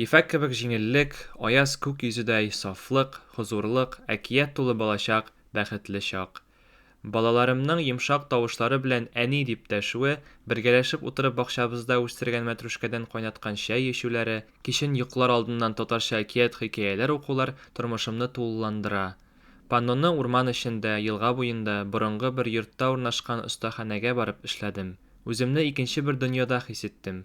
Ефәк кебек җиңеллек, аяз күк йөзедәй сафлык, хозурлык, әкият тулы балачак, бәхетле чак. Балаларымның йомшак тавышлары белән әни дип дәшүе, бергәләшеп утырып бакчабызда үстергән мәтрүшкәдән кайнаткан чәй эчүләре, кичен йоклар алдыннан татарча әкият-хикәяләр укулар тормышымны тулыландыра. Панноны урман эчендә, елга буенда, борынгы бер йортта урнашкан остаханәгә барып эшләдем. Үземне икенче бер дөньяда хис иттем.